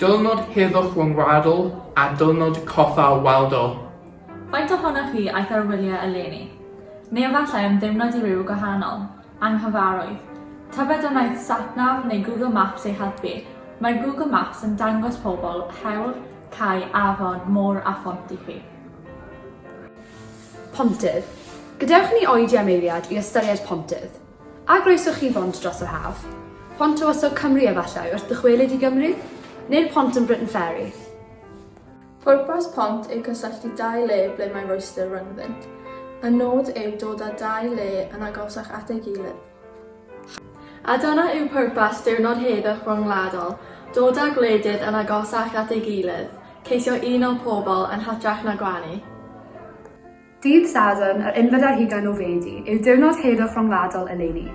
Diwrnod heddwch fy ngwradl, a diwrnod coffa y waldl. Faint ohonoch chi aeth ar wyliau eleni? Neu efallai am ddeimlad i ryw gwahanol? Anghyfarwydd? Tybed a wnaeth SatNav neu Google Maps ei helpu? Mae Google Maps yn dangos pobl, hewl, cae, afon, môr a phont i chi. Pontydd. Gadewch i ni oedi am eiliad i ystyried pontydd. A groeso chi bont dros yr haf? Pont Tywysog Cymru efallai wrth dychwelyd i Gymru? Neu'r pont yn Briton Ferry? Pwrpas pont yw cysylltu dau le ble mae rhwystr rhyngddynt. Y nod yw dod â dau le yn agosach at ei gilydd. A dyna yw pwrpas Diwrnod Heddwch Ryngwladol, dod â gwledydd yn agosach at ei gilydd, ceisio uno pobl yn hytrach na gwenu. Dydd Sadwrn, yr unfed ar hugain o Fedi, yw diwrnod heddwch ryngwladol eleni.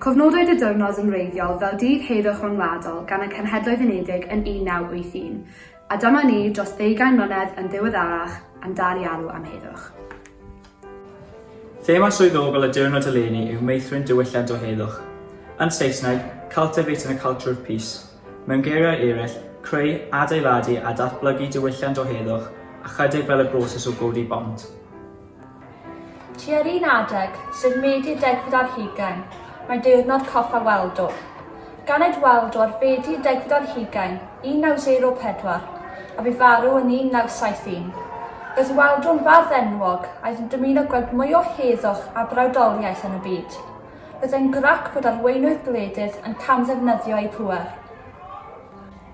Cofnodwyd y diwrnod yn wreiddiol fel Dydd Heddwch Ryngwladol gan y Cenhedloedd Unedig yn 1981, a dyma ni, dros ddeugain mlynedd yn ddiweddarach, yn dal i alw am heddwch. Thema swyddogol y diwrnod eleni yw meithrin diwylliant o heddwch. Yn Saesneg, Cultivating a Culture of Peace. Mewn geiriau eraill, creu, adeiladu a datblygu diwylliant o heddwch ychydig fel y broses o godi bont. Tua'r un adeg, sef Medi degfed ar hugain, mae Diwrnod Coffa Waldo. Ganed Waldo ar Fedi degfed ar hugain 1904, a bu farw yn 1971. Roedd Waldo'n fardd enwog, aeth yn dymuno gweld mwy o heddwch a brawdoliaeth yn y byd. Byddai'n grac bod arweinwyr gwledydd yn camddefnyddio eu pŵer.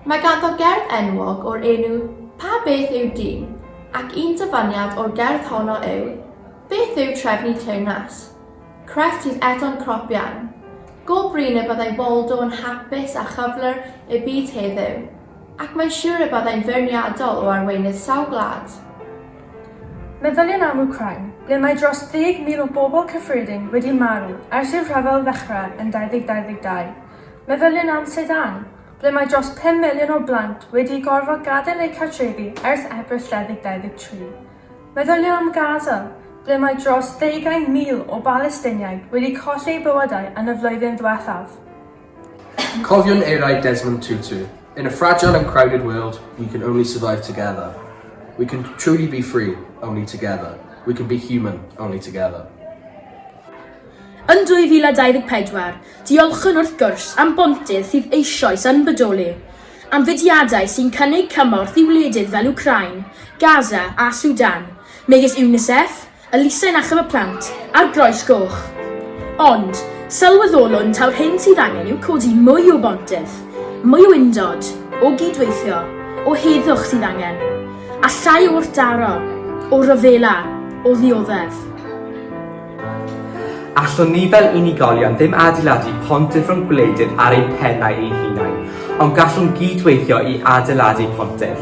Mae ganddo gerdd enwog o'r enw 'Pa beth yw dyn? ac un dyfaniad o'r gerdd honno yw 'Beth yw trefnu teyrnas? Crefft sydd eto'n crop iawn. Go brin y byddai Waldo yn hapus a chyflwr y byd heddiw, ac mae'n siwr y byddai'n feirniadol o arweinydd sawl gwlad. Meddyliwn am Wcráin, ble mae dros 10,000 o bobl cyffredin wedi marw ers i'r rhyfel ddechrau yn 2022. Meddyliwn am Sudan, ble mae dros 5 miliwn o blant wedi gorfod gadael eu cartrefi ers Ebrill 2023. Meddyliwn am Gaza, ble mae dros ddeugain mil o Balesteiniaid wedi colli eu bywydau yn y flwyddyn ddiwethaf. Cofiwn eiriau Desmond Tutu, In a fragile and crowded world, we can only survive together. We can truly be free, only together. We can be human, only together. Yn 2024, diolchwn wrth gwrs am bontydd sydd eisoes yn bodoli, am fudiadau sy'n cynnig cymorth i wledydd fel Ukraine, Gaza a Sudan, megis UNICEF, Elusen Achub y Plant ar groes goch. Ond, sylweddolwn taw'r hyn sydd angen yw codi mwy o bontydd, mwy o undod, o gyd-weithio, o heddwch sydd angen, a llai o wrthdaro, o ryfela, o ddioddef. Allwn ni fel unigolion ddim adeiladu pontydd rhwng gwledydd ar ein pennau ein hunain, ond gallwn gyd-weithio i adeiladu pontydd.